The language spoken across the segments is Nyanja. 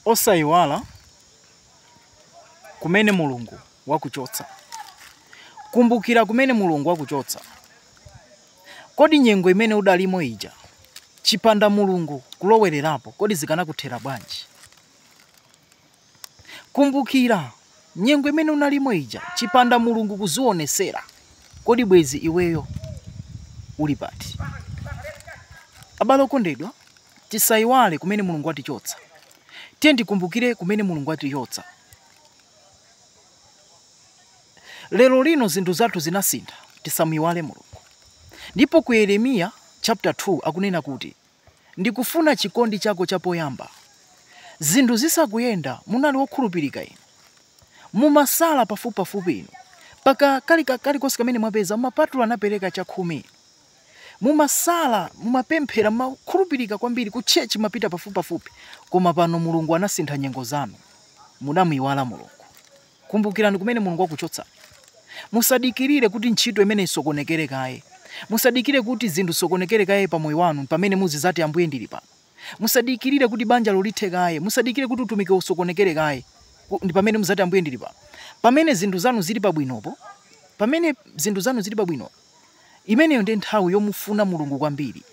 Osaiwala kumene Mulungu wakuchotsa. Kumbukira kumene Mulungu wakuchotsa. Kodi nyengo imene udalimo ija, chipanda Mulungu kulowererapo, kodi zikanakuthera bwanji? Kumbukira Nyengo imene unalimo ija chipanda mulungu kuzionesera kodi bwezi iweyo uli pati? Abale okondedwa tisaiwale kumene mulungu watichotsa. Tiye tikumbukire kumene mulungu watichotsa. Lero lino zinthu zathu zinasintha tisamuiwale mulungu. Ndipo ku Yeremiya chapter 2 akunena kuti. Ndikufuna chikondi chako cha poyamba. Zinthu zisakuyenda, munali wokhulupirika inu. Mumasala pafupipafupi inu. Mpaka, kali, ka, kalikonse kamene mwapeza, mumapatula napereka chakhumi inu. Mumasala, mumapemphera, mumakhulupirika kwambiri, ku church mumapita pafupipafupi. Koma pano Mulungu anasintha nyengo zanu. Mudamuiwala Mulungu. Kumbukirani kumene Mulungu wakuchotsa. Musadikirire kuti ntchito imene isokonekere kaye. Musadikire kuti zinthu zisokonekere kaye pa moyo wanu pamene muzizati, Ambuye, ndili pano. Musadikirire kuti banjalo lithe kaye. Musadikire kuti utumikiwo usokonekere kaye ku- ndi pamene muzati, Ambuye, ndili pano. Pamene zinthu zanu zili pabwinopo, pamene zinthu zanu zili pabwino, imeneyo ndi nthawi yomufuna Mulungu kwambiri.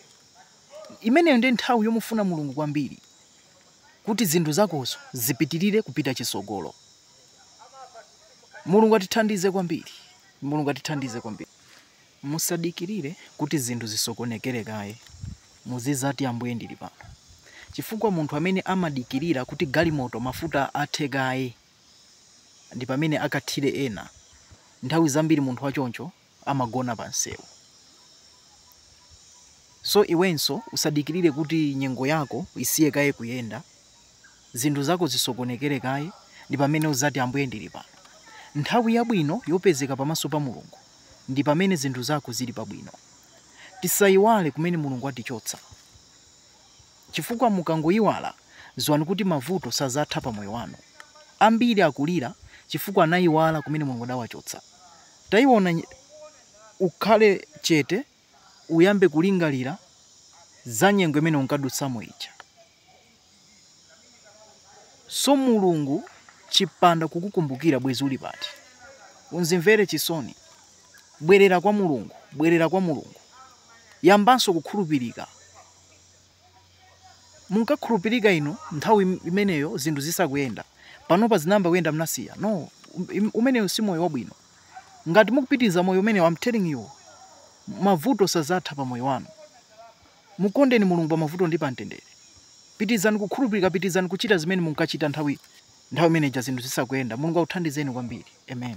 Imeneyo ndi nthawi yomufuna Mulungu kwambiri. kuti zinthu zakozo zipitilire kupita chisogolo mulungu atithandize kwambiri mulungu atithandize kwambiri musadikilire kuti zinthu zisokonekere kaye muzizati ambuye ndili pano chifukwa munthu amene amadikilira kuti galimoto mafuta athe kaye ndi pamene akathire ena nthawi zambiri munthu wachoncho amagona pa msewu. So iwenso usadikilire kuti nyengo yako isiye kaye kuyenda, zinthu zako zisokonekere kaye ndi pamene uzati Ambuye ndili pano. Nthawi yabwino yopezeka pamaso pa Mulungu ndi pamene zinthu zako zili pabwino. Tisaiwale kumene Mulungu watichotsa chifukwa mukangoiwala ziwani kuti mavuto sazatha pa moyo wanu. Ambiri akulira chifukwa anaiwala kumene Mulungu adawachotsa. Taiwona, ukhale chete, uyambe kulingalira za nyengo imene unkadutsamo ija. So Mulungu chipanda kukukumbukira bwezi uli pati? Unzimvere chisoni. Bwerera kwa Mulungu, bwerera kwa Mulungu. Yambanso kukhulupirika. munkakhulupirika inu nthawi imeneyo zinthu zisakuyenda. Panopa zinayamba kuyenda mnasiya. No, umeneyo si moyo wabwino. Ngati mukupitiriza moyo umeneyo, I'm telling you, mavuto sazatha pa moyo wanu. Mukondeni Mulungu pa mavuto ndi pa mtendere. Pitirizani kukhulupirika, pitirizani kuchita zimene munkachita nthawi nthawi imeneja zinthu zisakuyenda. Mulungu akuthandizeni kwambiri. Amen.